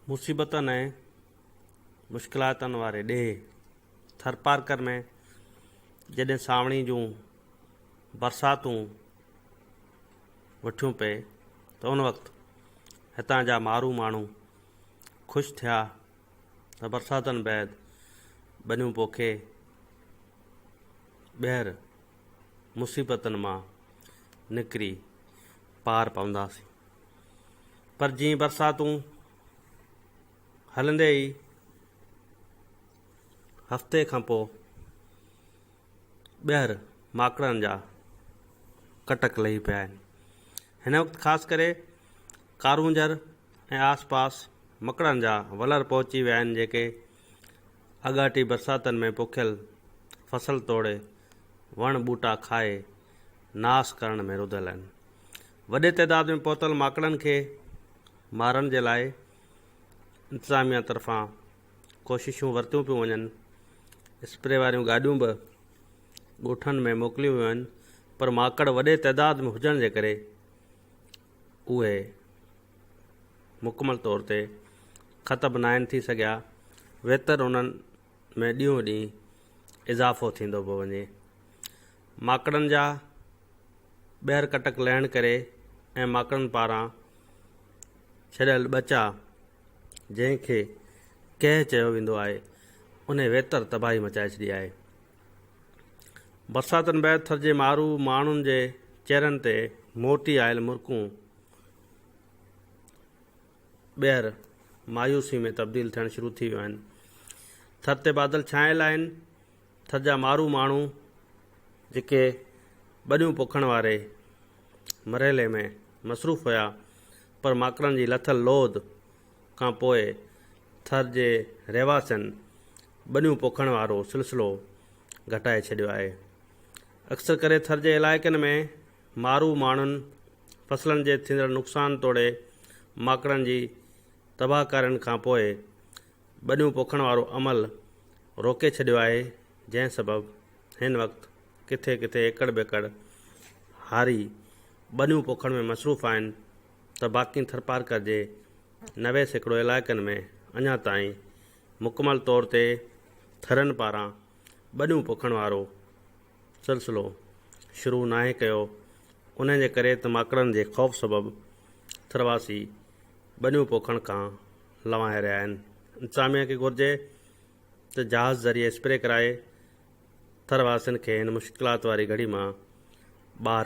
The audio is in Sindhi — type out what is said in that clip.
مصيبتن ۽ مشڪلاتن واري ڏيهه ٿرپارڪر ۾ جڏهن سانوڻي جون برساتون وٺيون پئي ته ان وقت هتان جا مارو ماڻهو خوش ٿيا ته برساتن بعد ٻنيون پوکي ٻيهر مصيبتن مان نڪري پار پونداسين پر جيئن برساتون هلندي ئي هفتي کان پوء ٻيهر ماڪڙن جا ڪٽڪ لهي پيا آهن هن وقت خاص ڪري ڪارونجهر ۽ آس پاس مڪڙن جا ولر پهچي ويا آهن جيڪي اڳاٽي برساتن ۾ پوکيل فصل توڙي وڻ ٻوٽا کائي ناس ڪرڻ ۾ رڌل آهن. وڏي تعداد ۾ پهتل ماڪڙن کي مارڻ جي لاء انتظاميا طرفان ڪوششون ورتيون پيون وڃن، اسپري واريون گاڏيون به ڳوٺن ۾ موڪليون ويون آهن پر ماڪڙ وڏي تعداد ۾ هجڻ جي ڪري اهي مڪمل طور تي ختم ناهن ٿي سگهيا ويتر انهن ۾ ڏينهون ڏينهن اضافو ٿيندو پيو وڃي. ماڪڙن جا ٻيهر ڪٽڪ لهڻ ڪري ۽ ماڪڙن پاران ڇڏيل ٻچا جنهن کي ڪهه چيو ويندو آهي انهي ويتر تباهي مچائي ڇڏي آهي. برساتن بعد ٿر جي مارو ماڻهن جي چهرن تي موٽي آيل مرڪون ٻيهر مايوسي ۾ تبديل ٿيڻ شروع ٿي ويون آهن. ٿر تي بادل ڇانيل آهن. ٿر جا مارو ماڻهو جيڪي ٻنيون پوکڻ واري مرحلي ۾ مصروف هيا پر ماڪڙن جي لٿل لوڌ کان پوء ٿر جي رهواسين ٻنيون پوکڻ وارو سلسلو گهٽائي ڇڏيو آهي. اڪثر ڪري ٿر جي علائقن ۾ مارو ماڻهن فصلن جي ٿيندڙ نقصان توڙي ماڪڙن جي تباهڪارين کان پوء ٻنيون پوکڻ وارو عمل روڪي ڇڏيو آهي جنهن سبب هن وقت ڪٿي ڪٿي ايڪڙ ٻيڪڙ هاري ٻنيون پوکڻ ۾ مصروف آهن ته باقين ٿرپارڪر جي نوي سيڪڙو علائقن ۾ اڃا تائين مڪمل طور تي ٿرين پاران ٻنيون پوکڻ وارو سلسلو شروع ناهي ڪيو، انهيء جي ڪري ته ماڪڙن جي خوف سبب ٿرواسي ٻنيون پوکڻ کان لنوائي رهيا آهن. انتظاميه کي گهرجي ته جهاز ذريعي اسپري ڪرائي ٿرواسين کي هن مشڪلات واري گهڙي مان ٻاهر